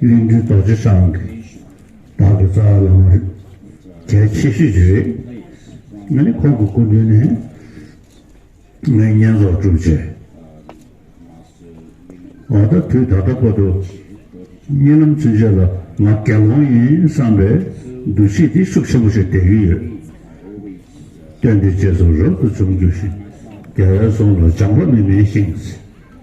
གླིང་སྒྲུང་རྡོ་རྗེ་འཆང་གི་བདག་གི་རྩ་བ་བླ་མ་རེད། གལ་ཆེ་ཤོས་ཀྱི་རེད། ང་ནི་ཁོང་གི་སྐུ་མདུན་ནས་ངས་བསྙེན་རྫོགས་བསྒྲུབས་རྗེས། འོ་ད་དུས་ད་ལྟ་བར་དུ་བསྙེན་ལམ་ཚུན་ཆད་ལ་ང་དགེ་སློང་ཡིན་བསམ་པའི་འདུ་ཤེས་དེ་ཤུགས་ཆེན་པོ་ཞིག་ལྡན་གྱི་ཡོད། སྟོན་དེའི་རྗེས་སུ་རབ་ཏུ་བྱུང་རྒྱུ་ཞིག་རྒྱལ་བའི་གསུང་ལ་སྦྱངས་པ་མི་དམན་ཞིང།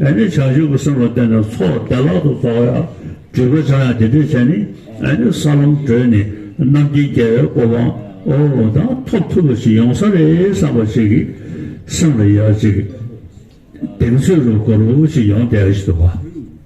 ཨེ་ནི་བྱང་ཆུབ་ཀྱི་སེམས་ལ་བརྟེན་ནས་ཚོགས་བདེ་བླག་ཏུ་རྫོགས་ཡང་སྒྲིབ་པའི་ཆ་ཡང་དེ་འདྲའི་ཆ་ནི་ཨེ་ནི་ས་ལམ་བགྲོད་ནས་རྣམ་མཁྱེན་རྒྱལ་བའི་གོ་འཕང་འོ་ན་ཐོབ་ཐུབ་པ་ཞིག་ཡོང་ས་རེད་བསམ་པ་ཞིག་གིས་སེམས་ལ་ཡར་ཅིག་གདེང་ཚོད་རུ་གོར་བུ་ཞིག་ཡོང་བསྡད་ཀྱི་འདུག་བ།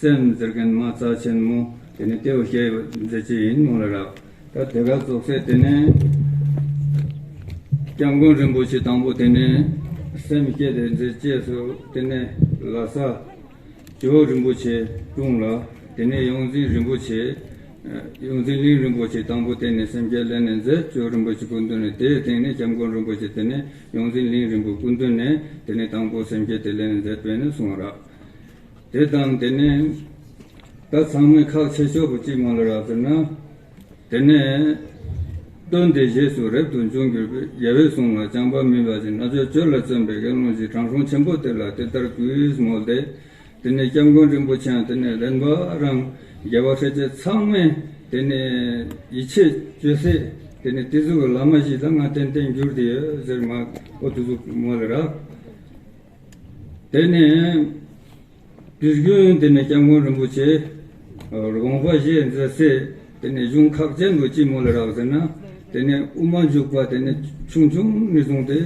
སེམས་མཛེར་མཁན་མ་རྩ་ཆེན་མོ་དེ་ནི་ལྟེ་བ་ཤེལ་ཡོད་མཛེས་ཅན་ཡིན་མོད་ལ་རག་ད་དེ་ག་རྫོགས་སའི་དེ་ནི། སྐྱབས་མགོན་རིན་པོ་ཆེ་དང་པོ་དེ་ནི། སེམས་བསྐྱེད་དེ་མཛེས་བཅས་སུ་དེ་ནི་ལ་ས། ཇོ་བོ་རིན་པོ་ཆེ་དྲུང་ལ་དེ་ནི་ཡོངས་འཛིན་རིན་པོ་ཆེ། ཡོངས་འཛིན་གླིང་རིན་པོ་ཆེ་དང་པོ་དེ་ནི་སེམས་བསྐྱེད་སླད་ནས་མཛད་སྤྱོད་རིན་པོ་ཆེ་སྐུ་མདུན་ནས་དེའི་སྟེང་ནས་སྐྱབས་མགོན་རིན་པོ་ཆེ་དེ་ནི་ཡོངས་འཛིན་གླིང་རིན་པོ་སྐུ་མདུན་ནས་དེ་ནི་དང་པོ་སེམས་བསྐྱེད་དེ་སླད་ནས་མཛད་པས་ནི་གསུང་བ་རག། དེ་དང་དེ་ནས་ད་ཚང་མས་ཁག་ཆེ་ཤོས་པོ་གཅིག་མ་ལ་རག་ཟེར་ན། དེ་ནས་སྟོན་དེ་རྗེས་སུ་རབ་ཏུ་འབྱུང་གྱུར་པས་རྒྱལ་བའི་གསུང་ལ་བྱམས་པ་མི་འབའ་ཞིག་ན་ཆོས་སྤྱོད་ལ་བརྩོན་པའི་དགེ་སློང་ཞིག་དྲང་སྲོང་ཆེན་པོ་དེ་ལ་དེ་ལྟར་གུས་མོ་བདེ། དེ་ནས་སྐྱབས་མགོན་རིན་པོ་ཆེའང་དེ་ནས་ལེན་པ་རང་རྒྱལ་བ་ཁྲི་ཆེན་ཚང་མས་དེ་ནས་ཡིད་ཆེས་བཅོལ་སྲས་དེ་ནས་ཏི་ཟུ་བའི་བླ་མ་ཞིག་ལ་ང་རྟེན་བརྟེན་འགྱུར་དེ་ཡོད་ཟེར་མ་ཨོ་ཏི་ཟུ་མ་ལ་རག། དེ་ནས་དུས་རྒྱུན་དེ་ནས་སྐྱབས་མགོན་རིན་པོ་ཆེ། ྋགོང་ས་གཞལ་མཛད་ཚེ་དེ་ནས་གཞུང་ཁག་ཅན་དུ་སྐྱིལ་མོ་ལ་རག་ཟེར་ན་དེ་ནས་དབུ་མ་འཇུག་པ་དེ་ནས་ཆུང་ཆུང་ནས་བཟུང་སྟེ་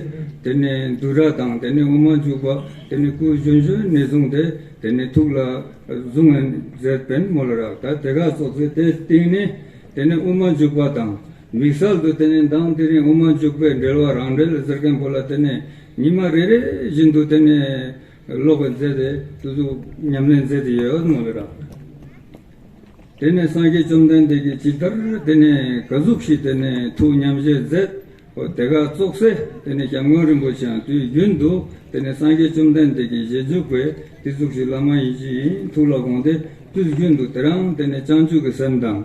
དེ་ནས་འདུ་ར་དང་དེ་ནས་དབུ་མ་འཇུག་པ་དེ་ནས་སྐུ་གཞོན་གཞོན་ནས་བཟུང་སྟེ་དེ་ནས་ཐུགས་ལ་གཟུང་བས་མཛད་བན་མོ་ལ་རག་ད་དེ་ག་སོགས་ཚེ་དེ་སྟེང་ནས་དེ་ནས་དབུ་མ་འཇུག་པ་དང། མིག་གསར་དུ་དེ་ནས་མདངས་དེ་རིང་དབུ་མ་འཇུག་པའི་འགྲེལ་བ་རང་འགྲེལ་ཟེར་མཁན་པོ་ལ་དེ་ནས་ཉི་མ་རེ་རེ་བཞིན་དུ་དེ་ནས་ཀློག་པའི་མཛད་དེ་ཏུ་གཟུགས་ཉམས་ལེན་མཛད་དེ་ཡོད་མ་རེད་ར། དེ་ནས་སངས་རྒྱས་བཅོམ་ལྡན་འདས་ཀྱིས་ཇི་ལྟར་དེ་ནས་ག་གཟུགས་ཤིག་དེ་ནས་ཐུགས་ཉམས་བཞེས་མཛད་འོ་དེ་ག་བཙོག་སེ་དེ་ནས ྋསྐྱབས་མགོན་རིན་པོ་ཆེའང་དུས་རྒྱུན་དུ་དེ་ནས་སངས་རྒྱས་བཅོམ་ལྡན་འདས་ཀྱི་ཞལ་འཇུག་པའི་དེ་གཟུགས་ཤིག་བླ་མ་ཡིན་གཅིག་ཡིན་ཐུགས་ལ་དགོངས་ཏེ་དུས་རྒྱུན་དུ་དེ་རང་དེ་ནས་སྤྱང་ཆུང་གི་སེམས་དང།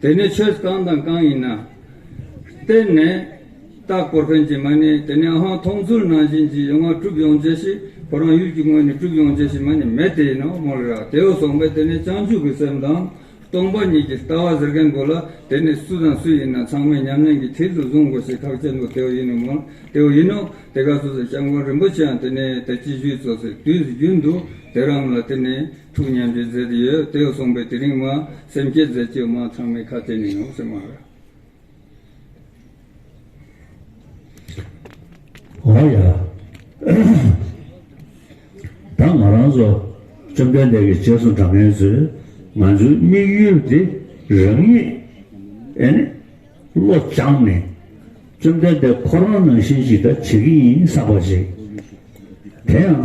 དེ་ནི་ཆོས་གང་དང་གང་ཡིན་ན། བརྟེན་ནས་བརྟག་གོ་ཕན་གྱི་མ་ནི་དེ་ནི་ཨང་མཐོང་ཚུལ་ནང་བཞིན་གྱི་ཡོད་ང་གྲུབ་ཡོང་བྱེད་ཞིག་གོ་རང་ཡུལ་གྱི་དངོས་ནས་གྲུབ་ཡོང་བྱེད་ཞིག་མ་ནི་མེད་དེ་ཡིན་ནོ་མོ་ལི་ར་དེའུ་གསུངས་པས་དེ་ནི་སྤྱང་ཕྱུག་གི་སེམས་དང། སྟོང་པ་ཉིད་ཀྱི་ལྟ་བ་ཟེར་མཁན་དགོས་ལ་དེ་ནི་སུ་དང་སུ་ཡིན་ན་ཚང་མས་ཉམས་ལེན་གྱི་མཐིལ་དུ་བཟུང་དགོས་ཞིག་ཐག་བཅད་འདུག་དེའུ་ཡིན་ནོ་མོ་ལི་དེའུ་ཡིན་ནོ་དེ་ག་སོ་སོའི་སྐྱབས་མགོན་རིན་པོ་ཆེའང་དེ་ནི་དལ་གྱིས་བཞུད་ཚོ་ཟེར་དུས་སུ་རྒྱུན་དུ་དེ་རང་ལ་དེ་ནི། ཐུགས་མཉམ་པའི་རྫས་དེ་ཡོད་དོ་གསུངས་པས་དེ་རིང་མ་སེམས་བསྐྱེད་རྫས་བཅོས་མ་ཚང་མའི་ཁ་དེ་ནས་ཡོང་ཟེར་མ་རེད། འོ་ཡ། ད་ང་རང་ཚོ་བཅོམ་ལྡན་འདས་ཀྱི་རྗེས་སུ་འབྲང་མཁན་ཚོས་ང་ཚོའི་དམིགས་ཡུལ་དེ་རང་ཉིད་ཨེ་ནི་བློ་སྦྱངས་ནས་བཅོམ་ལྡན་འདས་ཁོ་རང་ནང་བཞིན་ཞིག་ད་བྱེད་ཀྱི་ཡིན་བསམ་པ་ཞིག་དེ་ཡང།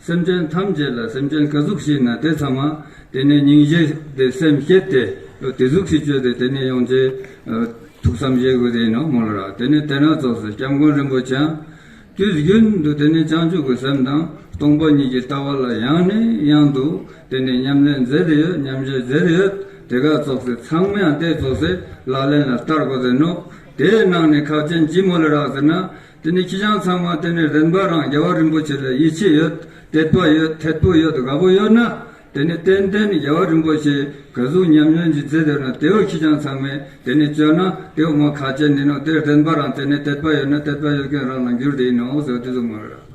སེམས་ཅན་ཐམས་ཅད་ལ་སེམས་ཅན་ག་གཟུགས་ཤིག་ན་དེ་ཚང་མ་དེ་ནས་སྙིང་བཞེས་ཏེ་སེམས་བསྐྱེད་དེ། དེ་གཟུགས་ཤིག་སྤྱོད་དེ་དེ་ནས་ཡོངས་ཀྱི། ཐུགས་བསམ་བཞེས་དགོས་དེ་ཡིན་ནོ་མོ་ལོ་ར་དེ་ནས་དེ་སྣ་ཚོགས་སུ་སྐྱབས་མགོན་རིན་པོ་ཆེའང། དུས་རྒྱུན་དུ་དེ་ནས་བྱང་ཆུབ་ཀྱི་སེམས་དང་སྟོང་པ་ཉིད་ཀྱི་ལྟ་བ་ལ་ཡང་ནས་ཡང་དུ་དེ་ནས་ཉམས་ལེན་མཛད་དེ་ཡོད་ཉམས་བཞེས་མཛད་དེ་ཡོད་དེ་ག་ཚོགས་སེ་ཚང་མ་ཡང་དེ་ཚོགས་སེ་ལག་ལེན་ལ་བསྟར་དགོས་དེ་ནོ། དེའི་ནང་ནས་ཁག་ཅན་གྱིས་མོ་ལོ་ར་ཟེར་ན་དེ་ནི་ཁྱི་སྤྱང་ཚང་མ་དེ་ནས་རེག་འབའ་རང་རྒྱལ་བ་རིན་པོ་ཆེ་ལ་ཡིད་ཆེས་ཡོད་དད་པ་ཡོད་ཐད་པུ་ཡོད་དགའ་པོ་ཡོད་ན་དེ་ནི་ཏན་ཏན་རྒྱལ་བ་རིན་པོ་ཆེའི་ག་གཟུགས་ཉམས་མྱོང་གྱི་རྫས་དེ་ཡོད་ན་དེའོ་ཁྱི་སྤྱང་ཚང་མས་དེ་ནས་སྤྱོད་ན་དེའོ་མ་ཁ་ཅན་ནི་ནོ་དེར་རེག་འབའ་རང་དེ་ནས་དད་པ་ཡོད་ན་དད་པ་ཡོད་མཁན་རང་ལ་འགྱུར་དེ་ཡིན་ནོ་ཟེར་བ་དེ་ཚོ་མ་རེད།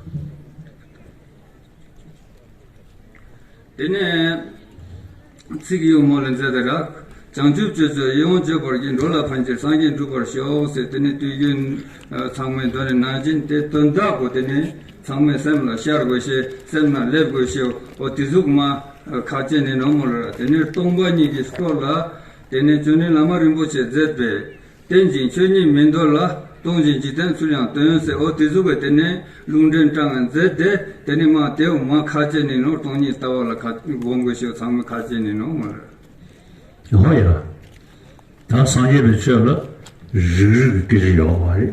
དེ་ནས་ཚིག་གཡུང་མོ་ལས་མཛད་དེ་རབ་བྱང་ཆུབ་སྤྱོད་ཚུལ་ཡིད་འོང་སྤྱོད་པར་བགྱི་འགྲོ་ལ་ཕན་ཕྱིར་སངས་རྒྱས་འགྲུབ་པར་ཤོག་ཟེར་དེ་ནས་དུས་རྒྱུན་ཚང་མས་གདོན་ནི་ན་སྦྱིན་ཏེ་དོན་དག་གོ་དེ་ནས་ཚང་མས་སེམས་ལ་ཤར་དགོས་ཤེ་སེམས་ན་སླེབས་དགོས་ཤེ་འོ་དེ་གཟུགས་མ་ཁ་ལྕེ་ནི་ནོར་མོ་ལ་ར་དེ་ནས་སྟོང་པ་ཉིད་ཀྱིས་སྤྲོ་ལ། དེ་ནས་ཅོ་ནེ་ལ་མ་རིན་པོ་ཆེ་མཛད་པས། རྟེན་ཅིང་ཆོས་ཉིད་མི་འདོར་ལ། སྟོང་ཅིང་འཇིག་རྟེན་ཚུལ་ཡང་སྟོན། ཟེར་འོ་དེ་གཟུགས་པས་དེ་ནི་ལུང་འདྲེན་དྲངས་མཛད་དེ། དེ་ནི་མ་དེའོ་མ་ཁ་ཅན་ནི་ནོར་སྟོང་ཉིད་ལྟ་བ་ལ་གོ་དགོས་ཤིའོ་ཚང་མ་ཁ་ཅན་ནི་ནོར་མ་རེད། ཧོ་ཡ། ད་སངས་རྒྱས་པའི་ཆོས་ལ་རིག་རིག་གི་སྐད་ཅིག་ཡོད་པ་མ་རེད།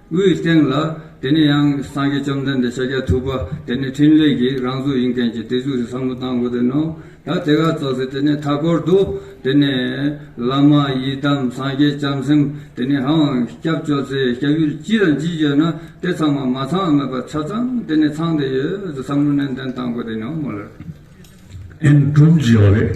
དབུའི་སྟེང་ལ། དེ་ནས་ཡང་སངས་རྒྱས་བཅོམ་ལྡན་འདས་ཕྱག་རྒྱ་ཐུབ་པ་དེ་ནི་ཕྲིན་ལས་ཀྱི་རང་གཟུགས་ཡིན་མཁན་གྱི་དེ་གཟུགས་སུ་བསམ་བློ་བཏང་དགོས་དོན་ནོ། ད་དེ་ག་རྫོགས་ཚེ་དེ་ནས་མཐའ་སྐོར་དུ། དེ་ནས། བླ་མ་ཡི་དམ་སངས་རྒྱས་བྱང་སེམས་དེ་ནས་ཧཱུྃ་དབང་སྐྱབས་བཅོལ་ཚེ་སྐྱབས་ཡུལ་ཅི་དང་ཅི་བརྗོད་ན་དེ་ཚང་མ་མ་ཚང་མེད་པར་ཆ་ཚང་དེ་ནས་ཚང་དེ་ཡོད་དུ་བསམ་བློ་ནན་ཏན་བཏང་དགོས་དོན་ནོ། ཨེ་འགྲུབ་བགྱི་བ་རེད།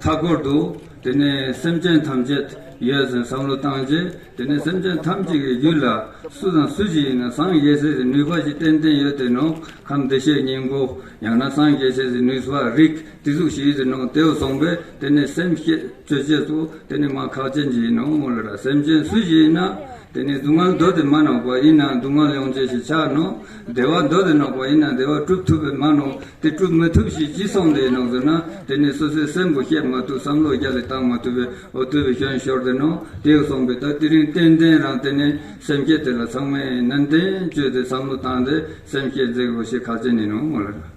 མཐའ་སྐོར་དུ། དེ་ནས་སེམས་ཅན་ཐམས་ཅད་ཡོད་ཟེར་བསམ་བློ་བཏང་རྗེས་དེ་ནས་སེམས་ཅན་ཐམས་ཅད་ཀྱི་རྒྱུད་ལ་སུ་དང་སུ་ཞིག་ཡིན་ན་སངས་རྒྱས་སྲས་ཀྱི་ནུས་པ་ཞིག་ཏན་ཏན་ཡོད་དེ་ནོ་ཁམས་བདེ་གཤེགས་སྙིང་པོ་ཡང་ན་སངས་རྒྱས་སྲས་ཀྱི་ནུས་པ་རིགས་དེ་གཟུགས་ཞིག་ཡོད་དེ་ནོ་དེའོ་གསུངས་པས་དེ་ནས་སེམས་བསྐྱེད་གཅོད་བྱེད་དོ་དེ་ནི་མ་ཁག་ཅན་གྱི་ནོ་མོ་ལ་སེམས་ཅན་སུ་ཞིག་ཡིན་ན་དེ་ནས་སྡུག་བསྔལ་མདོ་དེ་མ་ནོག་པ་ཡིན་ན་སྡུག་བསྔལ་ཡོངས་བཅད་ཞེས་བྱར་ནོ། བདེ་བ་མདོ་དེ་ནོག་པ་ཡིན་ན་བདེ་བ་བསྒྲུབ་ཐུབ་པས་མ་ནོག་དེ་བསྒྲུབ་མི་ཐུབ་ཞེས་ཅི་གསུངས་དེ་ནོག་ཟེར་ན་དེ་ནི་སོ་སོའི་སེམས་པོ་བཤད་མ་ཐུབ་བསམ་བློ་རྒྱ་ལས་བཏང་མ་ཐུབ་པས་འོ་བསྡུ་བའི་ཞོན་ཞོར་དེ་ནོག་དེའོ་གསུངས་པས་ད་དེ་རིང་ཏན་ཏན་རང་དེ་ནས་སེམས་བསྐྱེད་དེ་ལ་ཚང་མས་ནན་ཏན་བཅོས་ཏེ་བསམ་བློ་བཏང་སྟེ་སེམས་བསྐྱེད་འཛེགས་རོགས་ཞེས་ཁ་ཆེ་ནས་ནོག་མོ་ལ།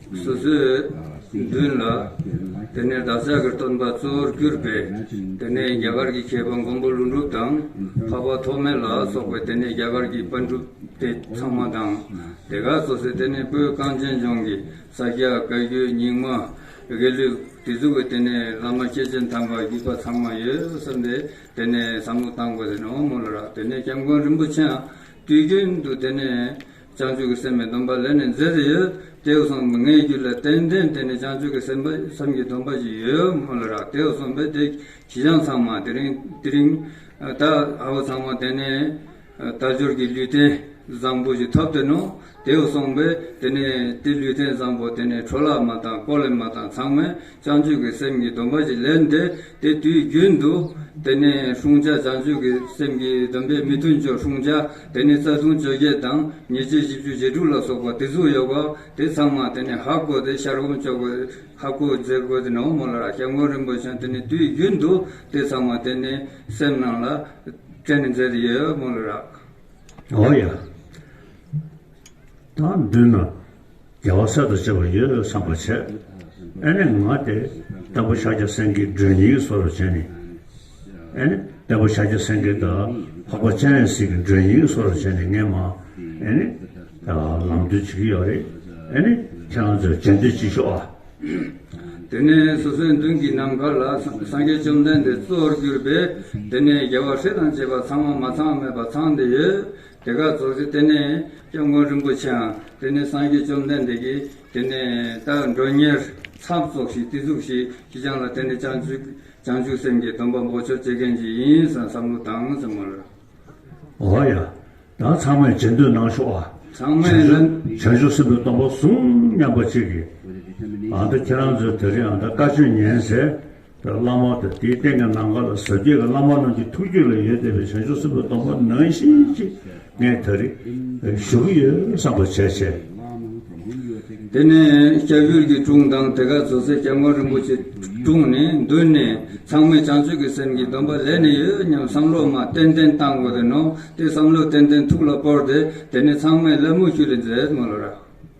སོ་སོའི་མདུན་ལ། དེ་ནས་བདག་ཅག་གི་སྟོན་པ་གཙོ་བོར་གྱུར་པས། དེ་ནས་རྒྱ་གར་གྱི་མཁས་པ་མགོན་པོ་ཀླུ་འབྲུག་དང། འཕགས་པ་ཐོགས་མེད་ལ་སོགས་པའི་དེ་ནས་རྒྱ་གར་གྱི་པཎ་གྲུབ་སྟེ་ཚང་མ་དང། དེ་གར་སོ་སོའི་དེ་ནས་སྤོས་རྐང་གཅེན་གཅུང་གི་ས་སྐྱ་བཀའ་བརྒྱུད་རྙིང་མ། དགེ་ལུགས་སྒྲིག་འཛུགས་ཀྱི་དེ་ནས་བླ་མ་སྐྱེས་ཆེན་དམ་པ་བརྒྱུད་པ་ཚང་མ་ཡོད་བསམས་ཏེ་དེ་ནས་བསམ་བློ་བཏང་བས་དེ་ནས་འོག་མོ་ལ་རག་དེ་ནས་སྐྱབས་མགོན་རིན་པོ་ཆེའང་དུས་རྒྱུན་དུ་དེ་ནས། བྱང་ཆུབ་ཀྱི་སེམས་མི་སྡོམ་པ་ལས་ནི་མཛེ་རེ་ཡོད་དེའོ་གསུངས་པའི་ངའི་རྒྱུད་ལ་རྟེན་འབྲེལ་འདི་ནི་བྱང་ཆུབ་ཀྱི་སེམས་བསམ་གྱིས་སྡོམ་པ་ཞིག་ཡོད་མོད་ལ་རག་དེའོ་གསུངས་པས་དེ་གྱིས་ཀྱང་ཚང་མ་དེ་རིང་དེ་རིང་ད་ཨའོ་ཚང་མ་དེ་ནི་དལ་འབྱོར་གྱི་ལུས་རྟེན་བཟང་པོ་ཞིག་ཐོབ་དེ་ནོ་དེའོ་གསུངས་པས་དེ་ནི་དེ་ལུས་རྟེན་བཟང་པོ་དེ་ནི་ཁྲོ་ལག་མ་དང་ཀོ་ལེ་མ་དང་ཚང་མས་བྱང་ཆུབ་ཀྱི་སེམས་ཀྱི་སྡོམ་པ་ཞིག་ལས་འདས་ཏེ་དུས་རྒྱུན་དུ། དེ་ནས་ལྷུང་བྱ་བྱང་ཆུབ་ཀྱི་སེམས་ཀྱི་སྡོམ་པའི་མི་མཐུན་ཕྱོགས་ལྷུང་བྱ་དེ་ནི་རྩ་ལྟུང་བཅོ་བརྒྱད་དང་ཉེས་བྱས་བཞི་བཅུ་ཞེ་དྲུག་ལ་སོགས་པ་དེ་གཟུགས་ཡོད་པ་དེ་ཚང་མ་དེ་ནི་ཧ་གོ་སྟེ་ཤར་བུམ་ཅོག་གི་ཧ་གོ་རྫས་གོ་སྟེ་ནོ་མོ་ལ་ར་ཤ་མགོན་རིན་པོ་ཆེ་དེ་ནི་དུས་རྒྱུན་དུ་དེ་ཚང་མ་དེ་ནི་སེམས་རྣམས་ལ་སྤྲད་ནས་མཛད་དེ་ཡོ་མོ་ལ་ར། ཨོ་ཡ། དང་བསྡུ་ན། རྒྱལ་བ་སྲས་དང་བཅས་པ་ཡོད་བསམ་པར་བྱས། ཨེ་ནས་ང་དེ་ལྟ་བུ་ཤཱཀྱ་སེང་གེའི་སྒྲོན་སྙིང་བཟོ་རུ་བྱས་ནས། ཨེ་ནས་ལྟ་བུ་ཤཱཀྱ་སེང་གེ་དང་འཕགས་པ་སྤྱན་རས་གཟིགས་ཀྱི་སྒྲོན་སྙིང་བཟོ་རུ་བྱས་ནས་ངས་མ་ཨེ་ནས། ལམ་སྟོན་བྱེད་ཀྱི་ཡོད་རེད། ཨེ་ནས་ཁྱེད་རང་ཚོས་རྗེས་མཐུད་ཅིག་ཤོག་ཨ། དེ་ནས་སོ་སོའི་མདུན་གྱི་ནམ་མཁའ་ལ་སངས་རྒྱས་བཅོམ་ལྡན་འདས་གཙོར་གྱུར་པས་དེ་ནས་རྒྱལ་བ་སྲས་དང་བཅས་པ་ཚང་བ་མ་ཚང་བ་མེད་པར་ཚང་འདི་ཡོད། དེ་ཀ་རྫོགས་ཚེ་དེ་ནས་སྐྱབས་མགོན་རིན་པོ་ཆེའང་དེ་ནས་སངས་རྒྱས་བཅོམ་ལྡན་འདས་ཀྱིས་དེ་ནས་བདག་མགྲོན་གཉེར་ཚབ་རྫོགས་ཤིག་དེ་ཚུགས་ཤིག་ཅི་བྱང་ལ་དེ་ནས་བྱང་ཆུབ་བྱང་ཆུབ་སེམས་ཀྱི་སྡོམ་པ་འབོགས་ཆོག་བྱེད་མཁན་ཅིག་ཡིན་ས་བསམ་བློ་བཏང་ཙམ་མ་རེད། འོ་ཡ། ད་ཚང་མས་བྱེད་འདོད་གནང་ཤོག་ཨ། ཚང་མས་ལ། བྱང་ཆུབ་སེམས་པའི་སྡོམ་པ་བཟུང་སྙམ་པ་ཅིག་གིས། ཨ་མདོ་ཁྱེད་རང་ཚོའི་དེ་རིང་ཨ་མདའ་བཀའ་ཆོས་ཉན་ཟེར་བླ་མ་དང་དེའི་སྟེང་གི་ནམ་མཁའ་ལ་ཟབ་རྒྱས་ཀྱི་བླ་མ་རྣམས་ཀྱི་ཐུགས་རྒྱུད་ལ་ཡོད་བསྡད་པའི་བྱང་ཆུབ་སེམས་དཔའི་སྡོམ་པ་ནང་བཞིན་གྱིས་ངས་ད་རེས་ཞུ་གི་ཡོད་བསམ་པ་བྱས་བྱས། དེ་ནས་སྐྱ་བོད་ཀྱི་དྲུང་དང་དེ་གར་ཟུར་ཟའི་སྐྱབས་མགོན་རིན་པོ་ཆེ་དྲུང་ནས་མདུན་ནས་ཚང་མས་བྱང་ཆུབ་ཀྱི་སེམས་ཀྱི་སྡོམ་པ་ལས་ནི་ཡོད་སྙམ་བསམ་བློ་མ་ཏན་ཏན་བཏང་དགོས་དོན་ནོ་དེ་བསམ་བློ་ཏན་ཏན་ཐུགས་ལ་སྤོར་ཏེ་དེ་ནས་ཚང་མས་ལད་མོ་ཞུ་ལས་མཛད་མོད་ལ།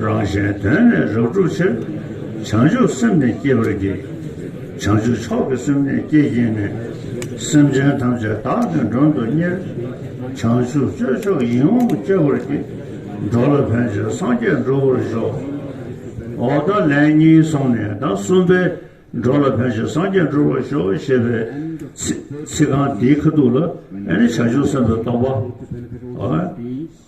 རང་གཞན་དོན་ལས་རབ་སྒྲུབ་ཕྱིར། བྱང་ཆུབ་སེམས་ནི་བསྐྱེད་པར་གྱིས། བྱང་ཆུབ་མཆོག་གི་སེམས་ནི་བསྐྱེད་ཀྱིས་ནི། སེམས་ཅན་ཐམས་ཅད་བདག་གི་མགྲོན་དུ་གཉེར། བྱང་ཆུབ་སྤྱོད་མཆོག་ཡིད་འོང་བསྐྱེད་པར་གྱིས། འགྲོ་ལ་ཕན་བྱེད་སངས་རྒྱས་འགྲུབ་པར་ཤོག། འོ་ད་ལན་གཉིས་སོང་ནས་ཟླ་གསུམ་པའི། འགྲོ་ལ་ཕན་བྱེད་སངས་རྒྱས་འགྲུབ་པར་ཤོག་ཞེས་པའི་ཚིག་རྐང་དེའི་ཁ་ཐུག་ལ་ཨེ་ནི་བྱང་ཆུབ་སེམས་དཔའི་སྟོང་པ།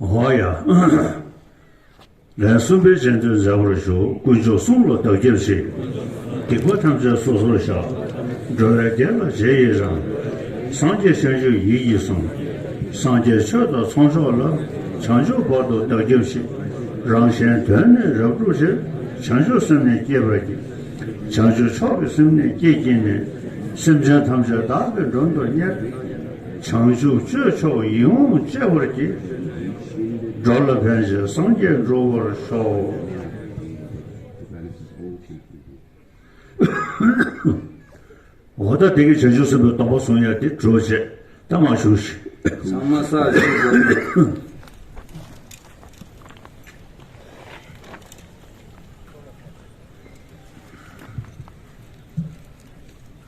ཧོ། ལན་གསུམ་པའི་སྤྱན་སྟོན་མཛད་པར་ཞུ། དཀོན་མཆོག་གསུམ་ལ་བདག་སྐྱབས་མཆི། སྡིག་པ་ཐམས་ཅད་སོ་སོར་བཤགས། འགྲོ་བའི་བདེ་ལ་རྗེས་ཡི་རང། སངས་རྒྱས་བྱང་ཆུབ་ཡིད་ཀྱིས་བཟུང། སངས་རྒྱས་ཆོས་དང་ཚོགས་མཆོག་ལ། བྱང་ཆུབ་བར་དུ་བདག་སྐྱབས་མཆི། རང་གཞན་དོན་ནི་རབ་བསྒྲུབ་ཕྱིར། བྱང་ཆུབ་སེམས་ནི་བསྐྱེད་པར་གྱིས། བྱང་ཆུབ་མཆོག་གི་སེམས་ནི་བསྐྱེད་ཀྱིས་ནི། སེམས་ཅན་ཐམས་ཅད་བདག་གི་མགྲོན་དུ་གཉེར། བྱང་ཆུབ་སྤྱོད་མཆོག་ཡིད་འོང་སྤྱད་པར་གྱིས། འགྲོ་ལ་ཕན་བྱེད་སངས་རྒྱས་འགྲོ་བར་ཤོག། འོ་ད་དེ་གའི་བྱང་ཆུབ་སེམས་དཔའི་སྟོང་པ་གསུང་ཡ་འདི་གྲོལ་བྱས་ད་མ་ཞུགས་ཤིག། ཚང་མ་ས་གཞི་བསྒོམ་དགོས།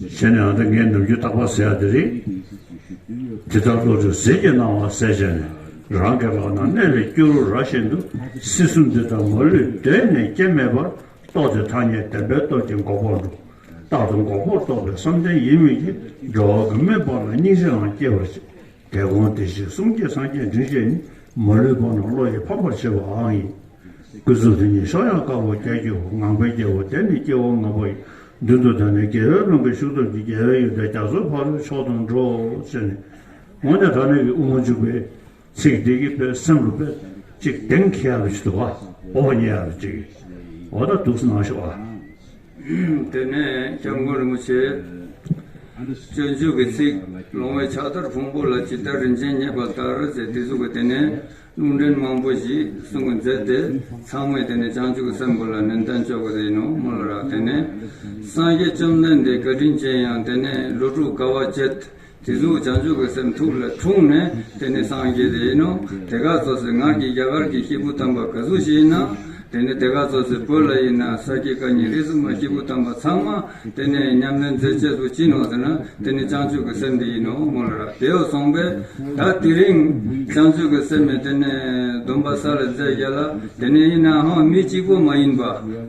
བྱས་ནས་ཨ་མདོ་ངའི་ནུབ་རྒྱུད་རྟག་པར་གཟས་ཡག་འདི་རེད། དེ་ལྟར་བློ་གྲོས་གཟས་ཀྱི་སྣང་བ་གསལ་བྱས་ནས་རང་གི་ལག་ན་གནས་པའི་སྐྱུ་རུ་ར་བཞིན་དུ་སྲིད་གསུམ་འདི་ལྟར་མ་ལུས་སྒྲེང་ནས་སྐྱེ་མེད་པར་རྟོགས་ཏེ་ཐ་སྙད་བདེན་པའི་སྟོབས་ཀྱིས་འགོག་པར་འགྲོ། རྟག་ཏུ་འགོག་པར་རྟོགས་པའི་བསམ་གཏན་ཡིན་མོད་ཀྱི་འགྲོ་བ་གང་མོས་པ་ལ་སྙིང་རྗེའང་སྐྱེ་བར་བྱེད། དེ་གོང་བདེ་གཤེགས་གསུམ་བསྐྱེད་སངས་རྒྱས་འབྲིང་བཤད་ནི་མ་ལུས་པ་རྣམས་བློ་ཡིས་ཕམ་པར་བྱེད་པའང་ཡིན། སྐུ་གཟུགས་དེ་ཉིད་གཤོག་ཡངས་དཀར་པོ་སྐྱ་སྐྱེ་བོ་ངང་པའི་རྒྱལ་པོ་དེ་ནི་སྐྱེ་བོ་ངང་པ་ཡི་མདུན་དུ་བདར་ནས་རྒྱལ་བའི་ཀླུང་གི་ཤུགས་སྟོབས་ཀྱིས་རྒྱལ་བའི་ཡོན་ཏན་རྒྱ་མཚོའི་ཕ་རོལ་ཕྱོགས་དང་འགྲོགས་ཕྱིར་ནི། འོངས་ནས་ད་ནི་ཀྱི་དབུ་མ་འཇུག་པའི་ཚིག་འདི་གི་པའི་སེམས་རུ་པའི་ཅིག་དེང་ཁྱེད་ཡར་བྱེད་དུ་བ་པོ་བ་ཉེ་ཡར་བྱེད་ཀྱི། འོ་ད་དུག་སྣང་ཤོག་ཨ། དེ་ནས་སྐྱབས་མགོན་རིན་པོ་ཆེས་སྤྱོད་འཇུག་གི་ཚིག། ལོང་བའི་ཕྱག་དར་ཕུང་པོ་ལ་ཇི་ལྟར་རིན་ཆེན་རྙེད་པ་ལྟར་ཟེར་སྡིགས་མཛུབ་ཀྱིས་དེ་ནས་རླུང་འདྲེན་མང་པོ་ཞིག་གསུང་གི་མཛད་དེ་ཚང་མས་དེ་ནས་བྱང་ཆུབ་ཀྱི་སེམས་བོར་ལ་ནན་ཏན་སྤྱོད་པ་དེ་ཡིན་ནོ་སྨོན་ལ་རག་དེ་ནས་སངས་རྒྱས་བཅོམ་ལྡན་འདས་བཀའ་དྲིན་ཅན་ཡང་དེ་ནས་ལོ་དྲུག་དགའ་བ་སྤྱད། དེ་གཟུགས་བྱང་ཆུབ་ཀྱི་སེམས་ཐུགས་ལ་འཁྲུངས་ནས་དེ་ནི་སངས་རྒྱས་དེ་ཡིན་ནོ། དེ་ག་ཚོད་སེ་ངར་གྱི་རྒྱ་གར་གྱི་ཤི་བོ་དམ་པ་ག་གཟུགས་ཞིག་ཡིན་ན། དེ་ནི་དེ་ག་ཚོད་སེ་བོད་ལ་ཡིན་ན་ས་སྐྱའི་བཀའ་ཉིད་རིས་སུ་མ་ཤི་བོ་དམ་པ་ཚང་མ་དེ་ནི་ཉམས་ལེན་མཛད་བྱེད་དུ་བྱིན་ནོ་ཟེར་ན་དེ་ནི་བྱང་ཆུབ་ཀྱི་སེམས་དེ་ཡིན་ནོ་མོ་ལ་ར་དེའོ་གསུངས་པས་ད་དེ་རིང་བྱང་ཆུབ་ཀྱི་སེམས་མེད་དེ་ནི་སྡོམ་པ་ས་ལ་མཛད་བཞག་ལ་དེ་ནི་ཡིན་ནའང་མི་གཅིག་པོ་མ་ཡིན་པ་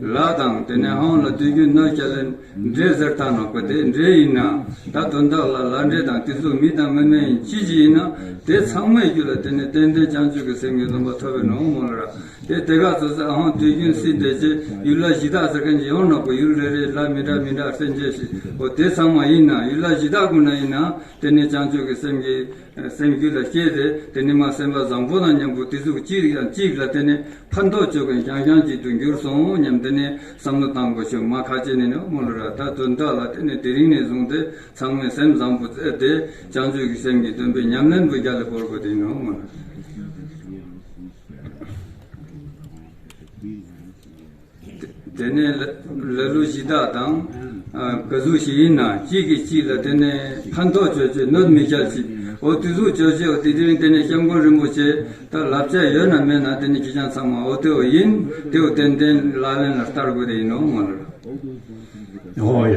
ལ་དང་དེ་ནི་ཧང་ལ་དུས་རྒྱུན་ནོད་ཀྱ་ལེན། འདྲེ་གཟེར་བཏང་ན་གོ་དེ་འདྲེ་ཡིན་ན་ད་དོན་དག་ལ་ལར་འདྲེ་དང་དེ་ཚོ་མི་དང་མི་མ་ཡིན་ཅི་ཞིག་ཡིན་ན་དེ་ཚང་མའི་རྒྱུ་ལ་དེ་ནི་ཏན་ཏན་བྱང་ཆུབ་ཀྱི་སེམས་ཀྱི་སྡོམ་པ་ཐོབ་པའི་ནོངས་མོ་ལ་ར་དེ་དེ་ག་ཚོད་ཟེར་ཨང་དུས་རྒྱུན་སྲིད་འདས་རྗེས་ཡུལ་ལ་གཞི་བདག་ཟེར་མཁན་གྱི་ཡོང་ན་གོ་ཡུལ་རེ་རེའི་ལ་མི་འདྲ་མི་འདྲ་སེ་མཇལ་ཞིག་གོ་དེ་ཚང་མ་ཡིན་ན་ཡུལ་ལ་གཞི་བདག་ཀུན་ན་ཡིན་ན་དེ་ནི་བྱང་ཆུབ་ཀྱི་སེམས་ཀྱི། སེམས་རྒྱུད་ལ་སྐྱེས་ཏེ་དེ་ནི་མ་སེམས་པ་བཟང་པོ་དང་མཉམ་པོ་དེ་གཟུགས་གཅིག་དང་གཅིག་ལ་བརྟེན་ནས་ཕར་འདོགས་བྱོས་མཁན་ཤང་ཤང་གཅིག་ཏུ་འགྱུར་སོང་སྙམ་དེ་ནི་བསམ་བློ་བཏང་དགོས་བྱུང་མ་ཁ་ཅིག་ནི་ནི་དམུ་ལོ་ར་ད་དོན་དག་ལ་བརྟེན་ནས་དེ་རིང་ནས་བཟུང་སྟེ་ཚང་མས་སེམས་བཟང་པོ་བཙལ་ཏེ་བྱང་ཆུབ་ཀྱི་སེམས་ཀྱི་སྟོན་པའི་ཉམས་ལེན་པོ་རྒྱ་ལ་བོར་དགོས་དེ་ཡིན་ནོ་དམུ་ལོ། དེ་ནས་ལ་ལུ་བཞི་དག་དང། བུ་གཟུགས་བཞི་ཡིན་ན་གཅིག་གིས་གཅིག་ལ་དེ་ནས་ཕན་ཐོགས་སྤྱོད་ཅིག་གནོད་མི་བྱ་ཅིག། འོ་དེ་གཟུགས་སྤྱོད་ཅིག་འོ་དེ་དེ་རིང་དེ་ནས་སྐྱབས་མགོན་རིན་པོ་ཆེ་ལྟར་ལབ་ཅག་ཡོད་ན་མེད་ན་དེ་ནས་ཁྱི་སྤྱང་ཚང་མ་འོ་དེ་འོ་ཡིན་དེ་འོ་ཏན་ཏན་ལག་ལེན་ལ་བསྟར་དགོས་དེ་ཡིན་ནོ་ང་ལ། ཨོ་ཡ།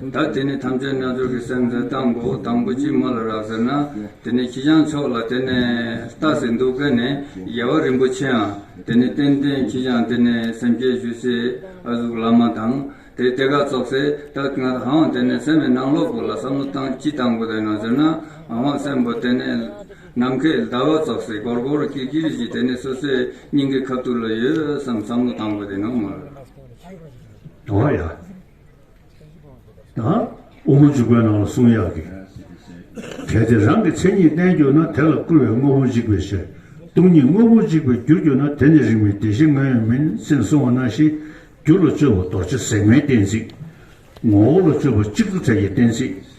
བདག་དེ་ནས་ཐམས་ཅད་རྣལ་འབྱོར་གྱི་སེམས་ལས་སྟང་སྒོ་དང་པོ་ཅིག་མ་ལ་རག་ཟེར་ན་དེ་ནས་ཁྱི་སྤྱང་ཕྱོགས་ལ་དེ་ནས་ལྟ་ཟེར་འདུག་སྐད་ནས་རྒྱལ་བ་རིན་པོ་ཆེའང་དེ་ནས་བསྟན་བསྟན་ཁྱི་སྤྱང་དེ་ནས་སེམས་བསྐྱེད་ཞུས་སའི་ཨ་གཟུགས་བླ་མ་དང་དེ་སྟེ་དགའ་ཚོགས་སེ་བདག་ང་དང་དེ་ནས་སེམས་ཨེ་ནང་ལོག་པོ་ལ་བསམ་བློ་བཏང་ཅི་བཏང་དགོས་ལེན་ནོ་ཟེར་ན་འང་བ་སེམས་པོ་དེ་ནས་ནམ་མཁའི་ཟླ་བ་ཚོགས་སེ་གོར་གོར་ཀིར་ཀིར་ཞིག་དེ་ནས་སོ་སོའི་སྙིང་གའི་ཁབ་ཐུར་ལ་ཡོད་བསམ་བསམ་བློ་བཏང་དགོས་ལེན་ནོ་མོར། དོ་ཡ། དབུ་གུར་འཇུག་པའི་ནང་ལ་གསུང་ཡག་གི། གལ་ཏེ་རང་གི་མཚན་ཉིད་བསྟན་གྱུར་ན་དེ་ལ་བསྐུལ་བའི་དངོས་པོ་འཇིག་པའི་ཕྱིར། སྟོང་ཉིད་དངོས་པོ་འཇིག་པའི་རྒྱུར་གྱུར་ན་དེ་ནི་རིགས་མི་བདེ་ཞེས་ངོས་ཡོད་མིན་སེམས་གསུང་བ་ན་ཞེས་རྒྱུ་ལ་སྤྱོད་པ་རྡོ་རྗེ་ཟེགས་མའི་གཏན་ཚིགས། ངོ་བོ་ལ་སྤྱོད་པ་གཅིག་ཏུ་བྲལ་གྱི་གཏན་ཚིགས།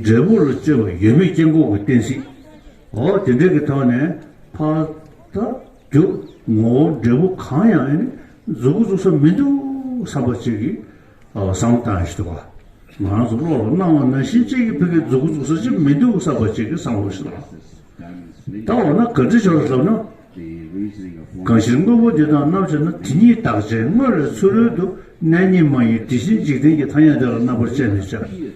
འབྲས་བུ་ལ་སྤྱོད་པ་ཡོད་མེད་སྐྱེ་འགོག་གི་གཏན་ཚིགས། འོ་དེ་འདྲེས་ཀྱི་ཐོག་ནས། ཕ། རྒྱུ། ངོ་བོ་འབྲས་བུ་གང་ཡང་ཡང་ནི་གཟུགས་སྐུ་གཟུགས་ས་མི་འདུག་བསམ་པ་གཅིག་གིས་བསམ་བློ་བཏང་ཞིག་དུ་བ། ང་རང་ཚོ་བློ་ལ་སྣང་བ་ན་གཞི་གཅིག་གིས་ཕི་གའི་གཟུགས་སྐུ་གཟུགས་ས་ཅིག་མི་འདུག་བསམ་པ་གཅིག་གིས་བསམ་བློ་ཞིག་བཏང། ད་འོ་ན་ག་འདྲི་ཞོར་ལབ་ན། གང་ཕྱིར་དངོས་པོ་འདི་དང་རྣམ་བཅས་ན་དེ་གཉིས་རྟག་ཅན་དངོས་ལས་ཚུལ་རོལ་དུ་གནས་ཉིད་མ་ཡིན་དེ་བཞིན་འཇིག་རྟེན་གྱི་ཐ་སྙད་དེ་ལ་རྣམ་པར་དཔྱད་མི་བྱ།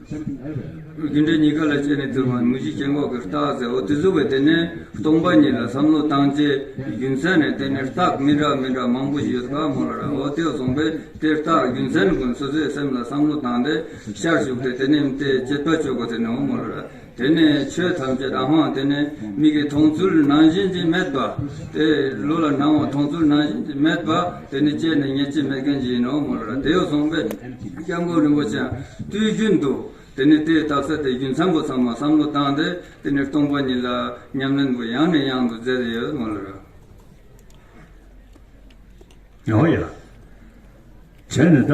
རྒྱུ་འབྲས་གཉིས་ཀ་ལ་དཔྱད་ནས་བསྡུར་བ་ནི་མུ་བཞི་སྐྱེ་འགོག་གི་རྟགས་ཟེར་འོ་དེ་གཟུགས་པའི་སྡེ་ནི་སྟོང་པ་ཉིད་ལ་བསམ་བློ་བཏང་རྗེས་རྒྱུ་མཚན་ནི་དེ་ནི་རྟགས་མི་འདྲ་མི་འདྲ་མང་པོ་ཞིག་ཡོད་དཀའ་མོ་ལ་ར་འོ་དེ་བཟུང་བས་དེ་རྟགས་རྒྱུ་མཚན་ཀུན་སོ་སོའི་སེམས་ལ་བསམ་བློ་བཏང་སྟེ་ཤར་ཞུགས་ཏེ་དེ་ནི་མི་དེ་དཔྱད་པ་སྤྱོད་གོ་དེ་ནི་འོ་མོ་ལ་ར་དེ་ནི་ཆོས་ཐམས་ཅད་རང་དབང་དེ་ནི་མིག་གི་མཐོང་ཚུལ་ནང་བཞིན་གྱི་མེད་པ། དེ་ལུས་ལ་སྣང་བ་མཐོང་ཚུལ་ནང་བཞིན་གྱི་མེད་པ། དེ་ནི་སྐྱེས་ནས་ཉེས་བྱས་མེད་མཁན་གྱི་ཡིན་ནོ་ངོ། དེ་ཡོ་བསྲུངས་པས་སྐྱབས་མགོན་རིན་པོ་ཆེ་སྤྲུལ་རྒྱུན་དུ། དེ་ནི་དེའི་རྟགས་གསལ་ཏེ་རྒྱུ་མཚན་པོ་ཚང་མ་བསམ་བློ་བཏང་སྟེ་དེ་ནི་སྟོང་པ་ཉིད་ལ་ཉམས་ལེན་པོ་ཡང་ནས་ཡང་དུ་མཛད་དེ་ཡོད་ངོ། ཡང་ཡང་བྱས་ནས་ད།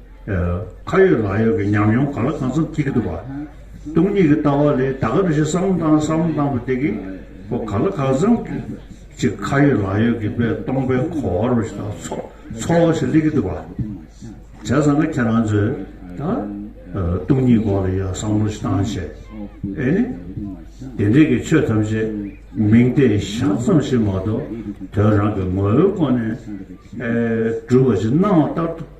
ཁ་ཡོད་ལག་ཡོད་ཀྱི་ཉམས་མྱོང་ག་ལ་གང་འཚམ་སྐྱེས་ཀྱི་འདུག་བ། སྟོང་ཉིད་ཀྱི་ལྟ་བ་ལས་ད་ག་རེ་བཞིན་བསམ་བློ་བཏང་བསམ་བློ་བཏང་བ་དེ་གིས་ཁོ་ག་ལ་གང་འཚམ་ཅིག་ཁ་ཡོད་ལག་ཡོད་ཀྱི་པའི་སྟོང་པའི་གོ་བ་རུ་ཞིག་དང་ཚོར་བ་ཞིག་སླེབས་ཀྱི་འདུག་བ། བྱས་ཙང་ང་ཁྱེད་རང་ཚོས་ད་སྟོང་ཉིད་སྐོར་ལ་ཡང་བསམ་བློ་ཞིག་བཏང་བྱས་ཨེ་ནི། དེ་འབྲེལ་གྱི་ཆོས་ཐམས་ཅད་མིང་བརྡས་བཞག་ཙམ་ཞིག་མ་གཏོགས་དོན་རང་གི་ངོ་བོའི་སྒོ་ནས་གྲུབ་པ་ཞིག་སྣང་བ་ལྟར་དུ།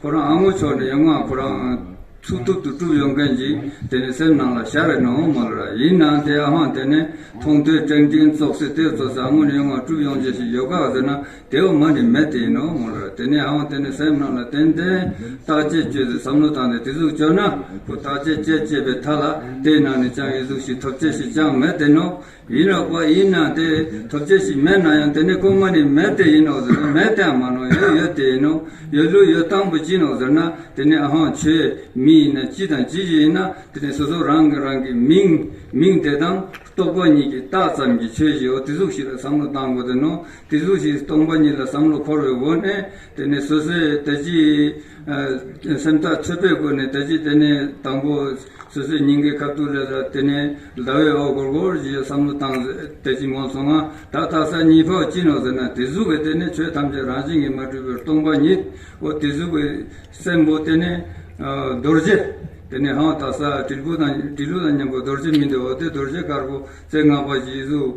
ཁོ་རང་ཨ་མོ་ཆོག་ནས་ཡོང་ང་ཁོ་རང་ཚུགས་ཐུབ་ཏུ་བསྐྲུབ་ཡོང་མཁན་ཞིག་དེ་ནི་སེམས་ནང་ལ་ཤར་བའི་ནོ་ཨོ་མོ་ལ་ར་ཡིན་ནང་དེ་ཨ་ཧོན་དེ་ནས་མཐོང་ཐོས་སྤྲེང་སྤྲིང་བཙོག་སེ་དེ་བཙོག་སེ་ཨ་མོ་ནས་ཡོང་ང་བསྐྲུབ་ཡོང་བྱེད་ཞིག་ཡོད་ག་ཟེར་ན་དེ་འོ་མ་ནི་མེད་དེ་ཡིན་ནོ་ཨོ་མོ་ལ་ར་དེ་ནས་ཨ་ཧོན་དེ་ནས་སེམས་ནང་ལ་ཏན་ཏན་བརྟག་དཔྱད་བྱོས་ཟེར་བསམ་བློ་བཏང་སྟེ་དེ་ཟུག་བཅོས་ན་ཁོ་བརྟག་དཔྱད་བྱེད་ཅེས་པའི་མཐའ་ལ་དེའི་ནང་ནས་ཅང་ཡི་གཟུགས་ཤིག་ཐོབ་བྱེད་ཞིག་ཅང་མེད་དེ་ནོ་ཡིད་རགས་པ་ཡིན་ཡང་དེ་ཐོབ་བྱེད་ཞིག་མེད་ན་ཡང་དེ་ནི་དཀོན་མ་ནི་མེད་དེ་ཡིན་ནོ་ཟེར་ན་མེད་དེའང་མ་ནོ་ཡོད་ཡོད་དེ་ཡིན་ནོ་ཡོད་ལུགས་ཡོད་དང་པོ་ཅི་ནོ་ཟེར་ན་དེ་ནི་ཧཱུྃ་ཆོས་མིན་ཡིན་ན་ཅི་དང་ཅི་བཞིན་ཡིན་ན་དེ་ནི་སོ་སོ་རང་གིས་རང་གི་མིང་མིང་དེ་དང་རྟོག་པ་ཉིད་ཀྱིས་བཏགས་ཙམ་གྱིས་ཆོས་བཞིའོ་དེ་གཟུགས་ཤིག་ལ་བསམ་བློ་གཏང་དགོས་དོན་ནོ་དེ་གཟུགས་ཤིག་སྟོང་པ་ཉིད་ལ་བསམ་བློ་འཁོར་བའི་འོག་ནས་དེ་ནི་སོ་སོའི་དལ་གྱིས་སེམས་ཐག་ཆོད་པོས་བཀོད་ནས་དལ་གྱིས་དེ་ནས་དང་པོ། སོ་སོའི་སྙིང་གའི་ཁ་བཏུགས་ལས་ལ་དེ་ནས་ཟླ་བའི་འོག་སྒོར་སྒོར་གྱི་བསམ་བློ་བཏང། དལ་གྱིས་ངོམས་སོང་ང་ད་ལྟ་ས་གཉིས་པའོ་ཅི་ནོ་ཟེར་ན་དེ་གཟུགས་ཀྱི་དེ་ནས་ཆོས་ཐམས་ཅད་རང་བཞིན་གྱིས་མ་གྲུབ་པར་སྟོང་པ་ཉིད་དོ། དེ་གཟུགས་ཀྱི་སེམས་པོ་དེ་ནས་རྡོ་རྗེ། དེ་ནས་ཧཱུྃ་དང་ས་དྲིལ་བུ་དང་དྲིལ་ལུ་དང་མཉམ་པོ་རྡོ་རྗེ་མི་འདོད་འོ་དེ་རྡོ་རྗེ་དཀར་པོ་རྩེ་ལྔ་པ་བཞིའི་གཟུགས།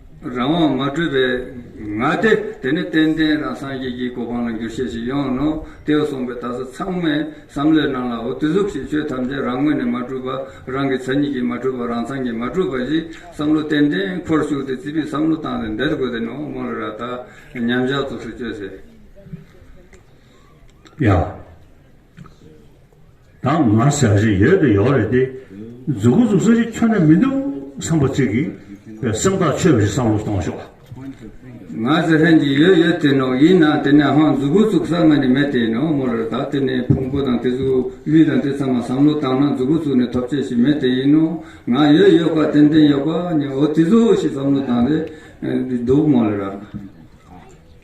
རང་དབང་མ་གྲུབ་པའི་ང་སྟེ། དེ་ནི་ཏན་ཏན་རང་སངས་རྒྱས་ཀྱི་གོ་འཕང་ལ་འགྱུར་བཤད་ཅིག་ཡོང་ནོ། ཏེའོ་གསུངས་པའི་དག་ས་ཚང་མས་བསམ་བློའི་ནང་ལ་འོ་དི་གཟུགས་ཞེས་ཆོས་ཐམས་ཅད་རང་ངོས་ནས་མ་གྲུབ་པ་རང་གི་མཚན་ཉིད་ཀྱིས་མ་གྲུབ་པ་རང་མཚང་གིས་མ་གྲུབ་པ་ཞིག་བསམ་བློ་ཏན་ཏན་ཁོར་ཞུགས་ཏེ་རྩིས་པས་བསམ་བློ་བཏང་སྟེ་འདེད་དགོས་དེ་ནི་ཨོ་མོ་ལི་ར་དག་ཉམས་བཞག་ཚུགས་སུ་བཅོས་ཟེར། ཡ། ད་ང་ཟ་བཞིན་ཡོད་དོ་ཡོད་རེད་དེ། འཛུགས་གོ་འཛུགས་ས་ཞིག་ཁྱོན་ནས་མི་འདུག་བསམ་པ་ཅིག་གིས་སེམས་ཐག་ཆོད་པ་ཞིག་བསམ་བློ་གཏོང་ཤོག་ཨ། ང་ཟ་ཧྲན་གྱིས་ཡོད་ཡོད་དེ་ནོ་ཡིན་ན་དེ་ནས་ཧང་འཛུགས་གོ་འཛུགས་ས་ང་ནི་མེད་དེ་ནོ་མོ་ལར་ད་དེ་ནི་ཕུང་པོ་དང་དེ་གཟུགས་དབྱིབས་དང་དེ་ཚང་མ་བསམ་བློ་བཏང་ན་འཛུགས་གོ་འཛུགས་ནི་ཐོབ་ཆས་ཞིག་མེད་དེ་ཡིན་ནོ་ང་ཡོད་ཡོད་ཁ་ཏན་ཏན་ཡོད་པ་ནི་འོ་དེ་ཟོ་ཞིག་བསམ་བློ་བཏང་རེད་འདུག་མོ་ལར།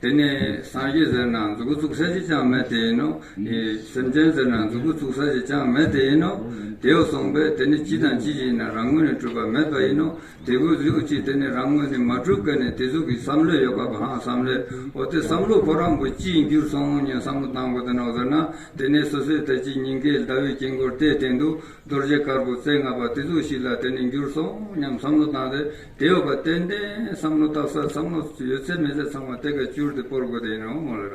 དེ་ནི་སངས་རྒྱས་ཟེར་ན་མཛུབ་མོ་བཙུགས་ས་ཞིག་ཅང་མེད་དེ་ཡིན་ནོ། སེམས་ཅན་ཟེར་ན་མཛུབ་མོ་བཙུགས་ས་ཞིག་ཅང་མེད་དེ་ཡིན་ནོ། དེའོ་གསུངས་པས་དེ་ནི་ཅི་དང་ཅི་ཞིག་ཡིན་ན་རང་ངོས་ནས་གྲུབ་པ་མེད་པ་ཡིན་ནོ། དེ་ཀུན་གཟིགས་དབུ་ཅི་དེ་ནི་རང་ངོས་ནས་མ་གྲུབ་སྐད་ནི་དེ་གཟུགས་ཀྱི་བསམ་བློས་ཡོད་པ་གང་བསམ་བློའོ། དེ་བསམ་བློ་ཁོ་རང་གི་ཅིའི་འགྱུར་སོང་ངོ་ཉོན་བསམ་བློ་བཏང་གོ་དེ་ནོག་ཟེར་ན་དེ་ནི་སོ་སོའི་ཐད་ཀྱི་སྙིང་གའི་ཟླ་བའི་དཀྱིལ་འཁོར་དེའི་སྟེང་དུ་རྡོ་རྗེ་དཀར་པོ་རྩེ་ལྔ་པ་དེ་གཟུགས་ཤིག་ལ་དེ་ནི་འགྱུར་སོང་སྙམ་བསམ་བློ་བཏང་སྟེ་དེ་འོག་གི་ཏན་ཏན་བསམ་བློ་བཏགས་སར་བསམ་བློ་ཡོད་ཚད་མེད་ཚད་ཚང་མ་དེ་ག་བསྐྱུར་ཏེ་སྤོར་དགོས་དེ་ཡིན་རུང་མོ་ལ་ར།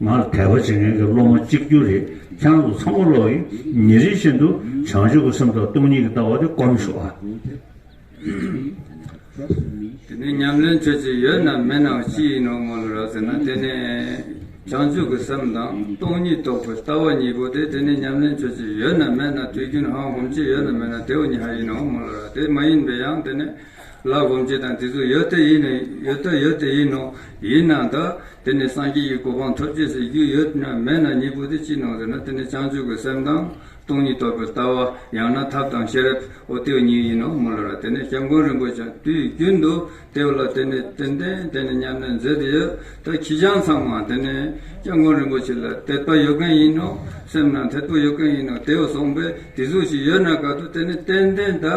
ང་ལ་དད་པ་བྱེད་མཁན་གྱི་སློབ་མ་གཅིག་གྱུར་རེ་འཁྱམ་འདུག་ཚང་མ་ལོག་ཡིན་ཉེ་རིང་བཞིན་དུ་བྱང་ཆུབ་ཀྱི་སེམས་ཐོག་སྟོང་ཉིད་ཀྱི་ལྟ་བ་དེ་སྐོར་མི་ཤོག་ཨ། དེ་ནས་ཉམས་ལེན་ཁྱོད་ཀྱི་ཡོད་ནམ་མེད་ནའོ་ཅི་ཡིན་ནོ་སྨོན་ལོ་རག་ཟེར་ན་དེ་ནས་བྱང་ཆུབ་ཀྱི་སེམས་དང་སྟོང་ཉིད་རྟོགས་པའི་ལྟ་བ་གཉིས་པོ་དེ་དེ་ནས་ཉམས་ལེན་ཁྱོད་ཀྱི་ཡོད་ནམ་མེད་ན་དུས་རྒྱུན་ཧང་ཧོམ་ཅིག་ཡོད་ནམ་མེད་ན་དེའོ་ཉི་ཧ་ཡིན་ནོ་སྨོན་ལོ་རག་དེ་མ་ཡིན་པའི་ཡང་དེ་ནས། ལ་སྒོམ་བྱེད་དང་དེ་ཚུལ་ཡོད་དེ་ཡིན་ནོ་ཡོད་དོ་ཡོད་དེ་ཡིན་ནོ། ཡིན་ན་དག་དེ་ནི་སངས་རྒྱས་ཀྱི་གོ་འཕང་ཐོབ་བྱེད་ཟེར་རྒྱུ་ཡོད་ན་མེད་ན་གཉིས་པོ་དེ་ཅི་ནོ་ཟེར་ན་དེ་ནི་བྱང་ཆུབ་ཀྱི་སེམས་དང་སྟོང་ཉིད་རྟོགས་པའི་ལྟ་བ་ཡང་ན་ཐབས་དང་ཤེས་རབ་ཨོ་དེའུ་གཉིས་ཡིན་ནོ་མུ་ལ་ར་དེ་ནས་སྐྱབས་མགོན་རིན་པོ་ཆེ་དུས་རྒྱུན་དུ་དེའུ་ལ་དེ་ནི་ཏན་ཏན་དེ་ནི་སྙམ་ནས་མཛད་དེ་ཡོད་དོ་ཁྱི་སྤྱང་ཚང་མ་དེ་ནི་སྐྱབས་མགོན་རིན་པོ་ཆེ་ལ་དད་པ་ཡོད་མཁན་ཡིན་ནོ་སེམས་ནང་དད་པོ་ཡོད་མཁན་ཡིན་ནོ་དེའུ་སོང་པས་དེ་ཚུལ་ཞིག་ཡོད་ན་ག་དུས་དེ་ནི་ཏན་ཏན་དག་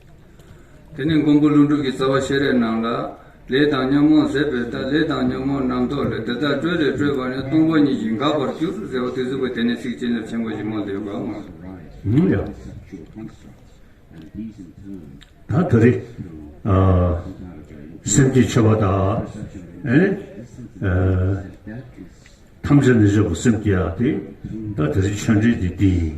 དེ་ནས་མགོན་པོ་ལུང་སྤྲུགས་ཀྱི་རྩ་བ་ཤེས་རབ་རྣམས་ལ། ལས་དང་ཉོན་མོངས་ཟད་པའི་རྟགས་ལས་དང་ཉོན་མོངས་རྣམ་རྟོག་ལས་འདི་དག་སྤྲོས་ལས་སྤྲོས་པ་ནི་སྟོང་པ་ཉིད་ཀྱིས་འགགས་པར་གྱུར་ཟེར་བ་དེ་གཟུགས་པ་དེ་ནི་ཚིག་བྱིན་རླབས་ཆེན་པོ་ཞིག་མངོན་དུ་ཡོད་པར་མངོན། ད་དོ་རི། སེམས་ཀྱི་ཆེ་བ་དག། ཐམས་ཅད་ནི་བཞག་གོ་སེམས་ཀྱི་ཡ། ད་དོ་རི་ཆོས་འབྲེལ་འདི་དེ་ཡིན།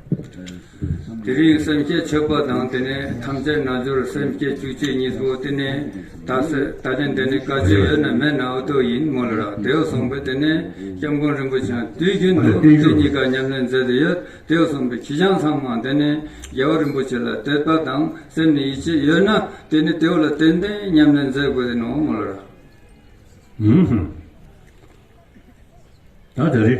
དེ་རིང་སེམས་བསྐྱེད་མཆོད་པ་དང་དེ་ནས་ཐམས་ཅད་རྣལ་འབྱོར་སེམས་བསྐྱེད་བཅུ་གཅིག་གཉིས་པོ་དེ་ནས་ད་གསོལ་ད་ལེན་དེ་ནས་བཀའ་བརྒྱུད་ཡོད་ན་མེད་ན་འུ་ཐུག་ཡིན་མོ་ལ་རག་དེའུ་གསུངས་པས་དེ་ནས་སྐྱབས་མགོན་རིན་པོ་ཆེའང་དུས་རྒྱུན་དུ་དེ་གཉིས་ཀ་ཉམས་ལེན་མཛད་དུ་ཡོད་དེའུ་གསུངས་པས་ཁྱི་སྤྱང་ཚང་མ་དེ་ནས་རྒྱལ་བ་རིན་པོ་ཆེ་ལ་དད་པ་དང་སེམས་ནས་ཡིད་ཆེས་ཡོད་ན་དེ་ནས་དེའུ་ལ་ཏན་ཏན་ཉམས་ལེན་མཛད་དགོས་དེ་ནོ་མོ་ལ་རག། ད་ད་རེ།